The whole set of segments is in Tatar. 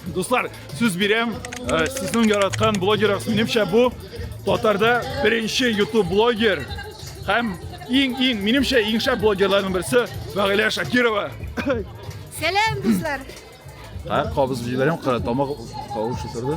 Дуслар, сүз бирәм, э, сезнең яраткан блогерыгыз минемчә бу татарда беренче YouTube блогер һәм иң иң минемчә иң шәп блогерларның берсе Фәгыйлә Шакирова. Сәлам, дуслар. Һә, кабыз җибәрәм, тамак кавышы торды.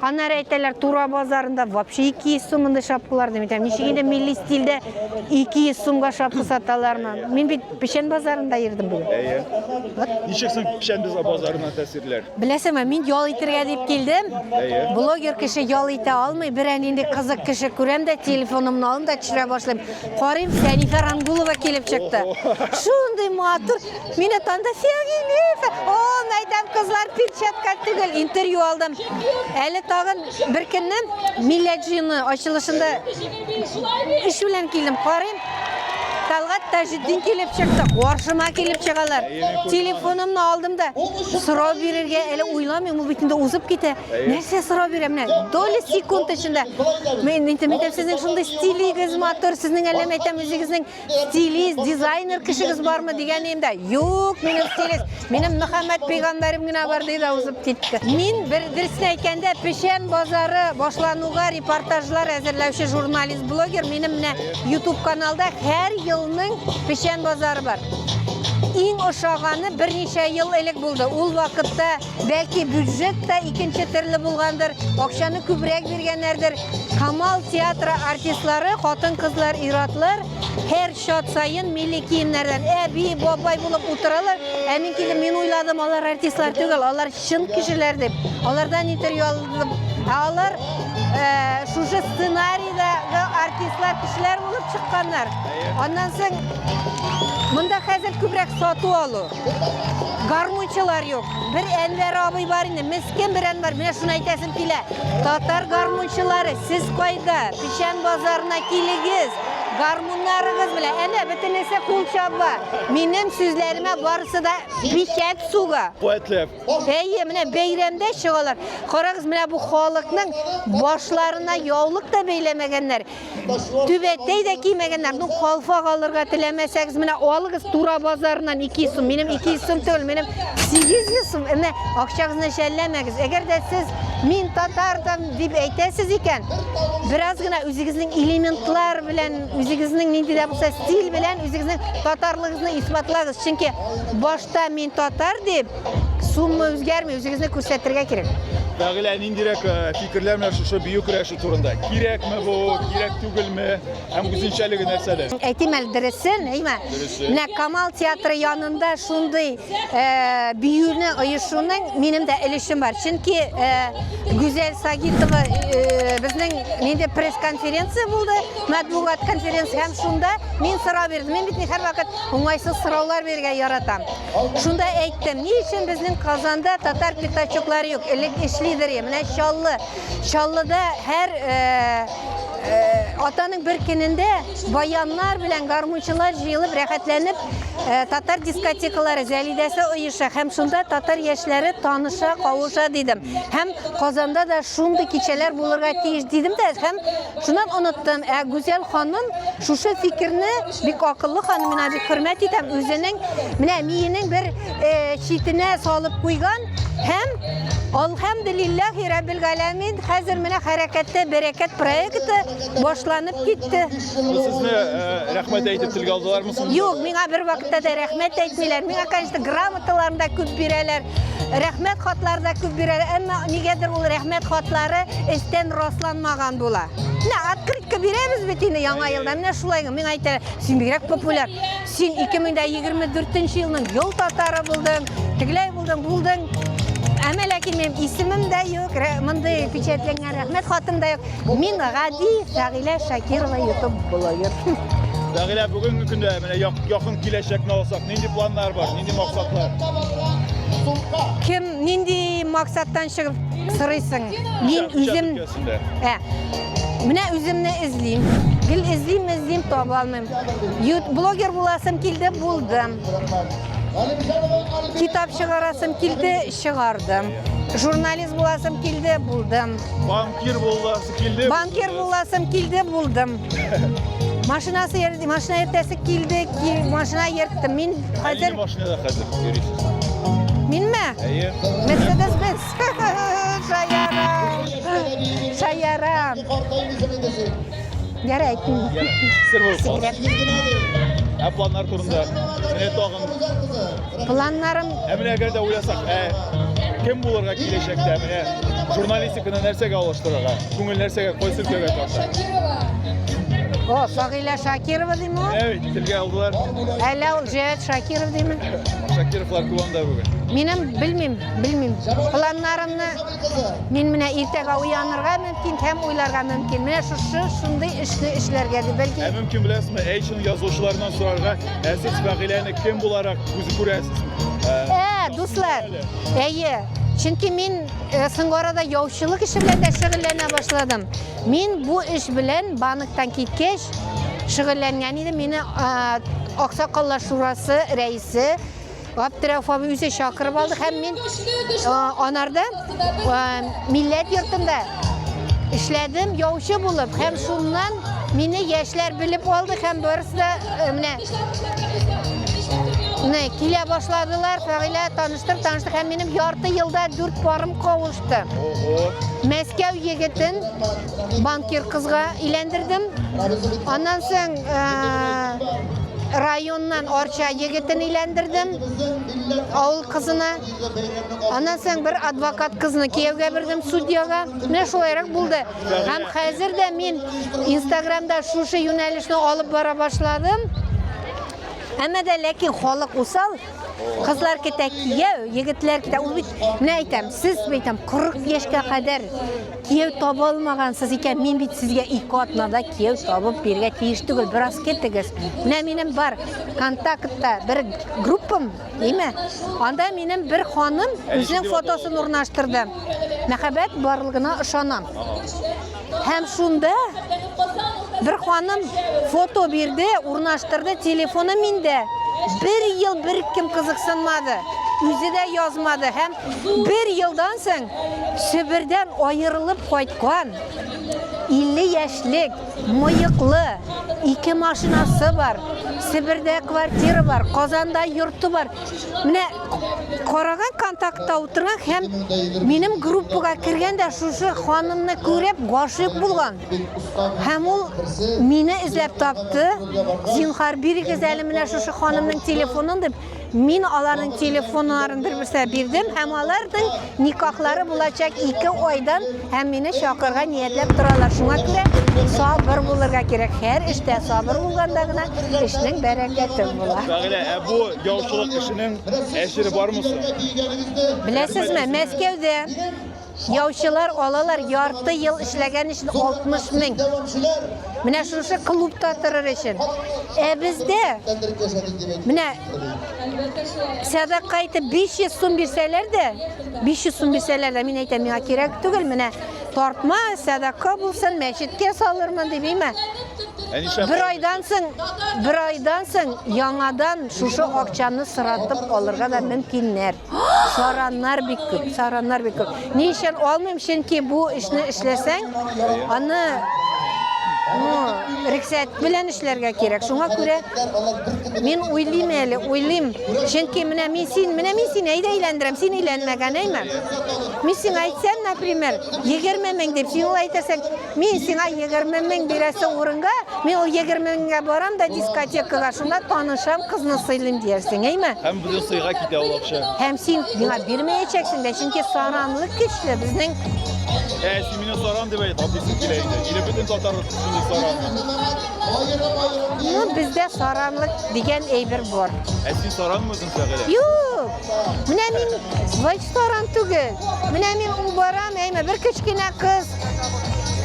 Аннары әйтәләр, Тура базарында вообще 200 сум инде шапкалар дим. Әйтәм, ничек инде милли стильдә 200 сумга шапка саталармы? Мин бит Печән базарында йөрдем бүген. Әйе. Ничек соң Печән базарына тәэсирләр? Беләсеңме, мин ял итергә дип килдем. Әйе. Блогер кеше ял итә алмый, берәр нинди кызык кеше күрәм дә, телефонымны алам да төшерә башлыйм. Карыйм, Фәнифә Рангулова килеп чыкты. Шундый матур. Мин атанда Сергеев. О, мәйдәм кызлар перчатка түгел, интервью алдым. Әле тагын бер көнне милләт җыены ачылышында эш белән килдем, карыйм. Талгат Таҗетдин килеп чыкты, каршыма килеп чыгалар. Телефонымны алдым да, сорау бирергә әле уйламыйм, ул бит инде узып китә. Нәрсә сорау бирә менә? Доли секунд эчендә. Мин әйтәм, әйтәм, сезнең шундый стилегез матур, сезнең әллә мәйтәм үзегезнең стилист, дизайнер кешегез бармы дигән идем дә, юк, минем стилист, минем Мөхәммәд пәйгамбәрем генә бар диде, узып китте. Мин бер дөресен әйткәндә, Печән базары башлануга репортажлар әзерләүче журналист, блогер, минем менә YouTube каналда һәр елның Печән базары бар. Иң ошаганы берничә ел элек булды. Ул вакытта Бәлки бюджет та икенче төрле булгандыр, акчаны күбрәк биргәннәрдер. Камал театры артистлары, хатын-кызлар, иратлар һәр шат саен милли киемнәрдән әби, бабай булып утыралар. Ә мин килеп, мин уйладым, алар артистлар түгел, алар чын кешеләр дип. Алардан интервью алдым. Ә алар э, шушы сценарийдагы артистлар, кешеләр булып чыкканнар. Аннан соң монда хәзер күбрәк сату алу. Гармунчылар юк. Бер Әнвәр абый бар инде, мескен бер Әнвәр. Менә шуны әйтәсем килә. Татар гармунчылары, сез кайда? Печән базарына килегез. Гармуннарыгыз белән. Әнә бөтенесе кул чаба. Минем сүзләремә барысы да печәт суга. Поэтләп. Әйе, менә бәйрәмдә чыгалар. Карагыз, менә бу халыкның башларына яулык та бәйләмәгәннәр. Түбәтәй дә кимәгәннәр. Ну, калфак алырга теләмәсәгез, менә алыгыз Тура базарыннан 2 сум. Минем 2 сум түгел, минем 800 сум. Менә акчагызны шәлләмәгез. Әгәр дә сез мин татардан дип әйтәсез икән, бераз гына үзегезнең элементлар белән, үзегезнең нинди дә булса стиль белән үзегезнең татарлыгыгызны исбатлагыз. Чөнки башта мин татар дип сумма үзгәрми, үзегезне күрсәтергә кирәк. Бәгылә ниндирәк э, фикерләр менә шушы бию көрәш Турында кирәкме бу, кирәк түгелме, һәм үзенчәлеге нәрсәдә? Әйтим әле дөресен, әйме? Менә Камал театры янында шундый э, биюне оешуның минем дә өлешем бар. Чөнки э, Гүзәл Сагитова э, безнең нинди пресс-конференция булды, матбугат конференция һәм шунда мин сорау бирдем. Мин бит һәрвакыт уңайсыз сораулар бирергә яратам. Шунда әйттем, ни өчен безнең Казанда татар пятачоклары юк? Элек эшлидер, менә Чаллы Чаллыда һәр атаның бер көнендә баяннар белән гармунчылар җыелып рәхәтләнеп татар дискотекалары Зәлидәсе оеша һәм шунда татар яшьләре таныша, кавыша дидем. Һәм Казанда да шундый кичәләр булырга тиеш дидем дә һәм шуннан оныттым. Ә Гүзәл ханым шушы фикерне Бик акыллы ханым, мина бик хөрмәт итәм. Үзенең менә миенең бер э, читенә салып куйган һәм Алхамдулиллахи Раббил Галәмин, хәзер менә хәрәкәттә берекет проекты башланып китте. Сезне э, рәхмәт әйтеп телгә алдылармы соң? Юк, миңа бер вакытта да рәхмәт әйтмиләр. Миңа, конечно, грамоталарны да күп бирәләр. Рәхмәт хатлары да күп бирәләр. Әмма нигәдер ул рәхмәт хатлары эстән расланмаган була. Менә открытка бирәбез бит инде яңа елда. Менә шулай мин әйтә, син бигрәк популяр. Син 2024 елның ел татары булдың, тегеләй булдың, булдың. Әмә ләкин минем исемем дә юк, мондый печатләнгән рәхмәт хатым да юк. Мин гади Фәгилә Шакирова YouTube блогер. Фәгилә бүгенге көндә менә якын киләчәкне алсак, нинди планнар бар, нинди максатлар? Кем нинди максаттан чыгып сорыйсың? Мин үзем Сендә. Ә. Менә үземне эзлим. Гел эзлим, эзлим, таба алмыйм. Блогер буласым килде, булдым. Китап чыгарасым килде, чыгардым. Журналист буласым килде, булдым. Банкир буласым килде. Банкир буласым килде, булдым. Машинасы ерді, машина ертәсе келді, машина ерттім. Мен қазір... машинада қазір Мен ме? Әйе. Мерседес Бенц. Шаярам. Ярай, әйтмим. Сер булып Секрет. Ә планнар турында. Менә тагын. Планнарым. Ә менә әгәр дә уйласак, ә кем булырга киләчәктә менә журналистиканы нәрсәгә алыштырырга? Күңел нәрсәгә, кайсы өлкәгә тарта? О, Сагыйлә Шакирова димме? Әйт, телгә алдылар. Әллә ул Җәят Шакиров димме? Шакировлар туганда бүген. Минем белмим, Белмим. Планнарымны мин менә иртәгә уянырга мөмкин һәм уйларга мөмкин. Менә шушы шундый эшне эшләргә дип бәлки. Ә мөмкин беләсезме, әйшин язучылардан сорарга, ә сез Фәгыйләне кем буларак күз күрәсез? Ә, дуслар. Әйе. Чөнки мин э, соңгы арада яучылык эше белән дә шөгыльләнә башладым. Мин бу эш белән банктан киткәч шөгыльләнгән идем. Мине э, Аксакаллар шурасы рәисе Габдрәүф абый үзе чакырып алды һәм мин анарда милләт йортында эшләдем яучы булып һәм шуннан мине яшьләр белеп алды һәм барысы да менә менә килә башладылар фәгыйлә таныштыр таныштыр һәм минем ярты елда дүрт парым кавышты мәскәү егетен банкир кызга иләндердем. Аннан соң районнан Арча егетен иләндердем. Авыл кызына. Аннан соң бер адвокат кызны кияүгә бирдем судьяга. Менә шулайрак булды. Һәм хәзер дә мин Инстаграмда шушы юнәлешне алып бара башладым. Әмма дә ләкин халык усал, Кызлар китә кияү, егетләр китә. Ул бит, менә әйтәм, сез әйтәм, 40 яшькә кадәр кияү таба алмагансыз икән, мин бит сезгә ике атнада кияү табып бирергә тиеш түгел, бераз китегез. Менә минем бар контактта бер группам, димә. Анда минем бер ханым үзенең фотосын урнаштырды. Мәхәббәт барлыгына ышанам. Һәм шунда бер ханым фото бирде, урнаштырды, телефоны миндә. Бер ел бер кем кызыксынмады, үзе дә язмады һәм бер елдан соң Себердән аерылып кайткан 50 яшьлек мыеклы, ике машинасы бар, Себердә квартира бар, Казанда йорты бар. Менә Караган контактта утырган һәм минем группага кергән дә шушы ханымны күреп гашыйк булган. Һәм ул мине эзләп тапты. Зинхар бирегез әле менә шушы ханымның телефонын дип, мин аларның телефоннарын бер-берсенә бирдем һәм аларның Никахлары булачак ике айдан һәм мине чакырырга ниятләп торалар. Шуңа күрә сабыр булырга кирәк. Һәр эштә сабыр булганда гына эшнең бәрәкәте була. Фәгилә, ә бу яучылык эшенең әҗере бармы соң? Беләсезме, Мәскәүдә яучылар алалар ярты ел эшләгән өчен 60 мең. Менә шушы клубта торыр өчен. Ә бездә менә Сәдакка итеп 500 сум бирсәләр дә, 500 сум бирсәләр дә, мин әйтәм, миңа кирәк түгел, менә тартма, сәдакка булсын, мәчеткә салырмын дип, әйме. Бер айдан соң, бер айдан соң яңадан шушы акчаны сыратып алырга да мөмкиннәр. сараннар бик күп сараннар бик күп ни өчен алмыйм чөнки бу эшне эшләсәң аны ну рексәт белән эшләргә кирәк шуңа күрә мин уйлыйм әле уйлыйм чөнки менә мин син менә мин сине әйдә әйләндерәм син әйләнмәгән әйме мин сиңа әйтсәм например егерме мең дип син ул әйтәсең Мин сиңа 20 мең бирәсе урынга, мин ул 20 меңгә барам да дискотекага, шунда танышам, кызны сыйлыйм диярсең, әйме? Һәм бүген сыйга китә ул акча. Һәм син миңа бирмәячәксең дә, чөнки саранлык көчле безнең. Ә син мине саран дип әйт, аписы килә инде. Или бөтен татар шундый саран. Ну, бездә саранлык дигән әйбер бар. Ә син саранмы үзең Сәгилә? Юк. Менә мин вайт саран түгел. Менә мин ул барам, әйме, бер кечкенә кыз,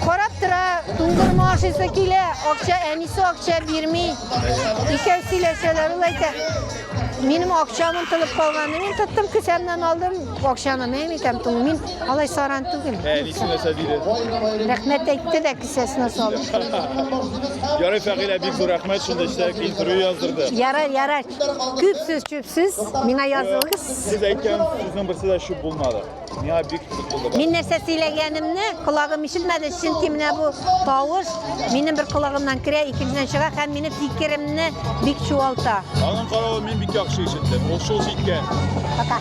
Карап тора, туңдырма ашыйсы килә, акча әнисе акча бирми. Икәү сөйләшәләр, ул әйтә. Минем акчам онтылып калган. Мин тоттым кесәмнән алдым акчаны. Мин әйтәм, туң мин алай саран түгел. Ә әнисе нәрсә диде? Рәхмәт әйтте дә кесәсенә салды. Ярый, Фәгыйлә, бик зур рәхмәт шундый эштә интервью яздырды. Ярар, ярар. Күп сүз, чүп сүз. Миңа язылыгыз. Сез әйткән сүзнең берсе дә чүп булмады. Миңа бик кызык булды. Мин нәрсә сөйләгәнемне колагым ишетмәде, чөнки менә бу тавыш минем бер колагымнан керә, икенчедән чыга һәм мине фикеремне бик чуалта. Аның каравы мин бик яхшы ишеттем. Ул шул җиткән. Пока.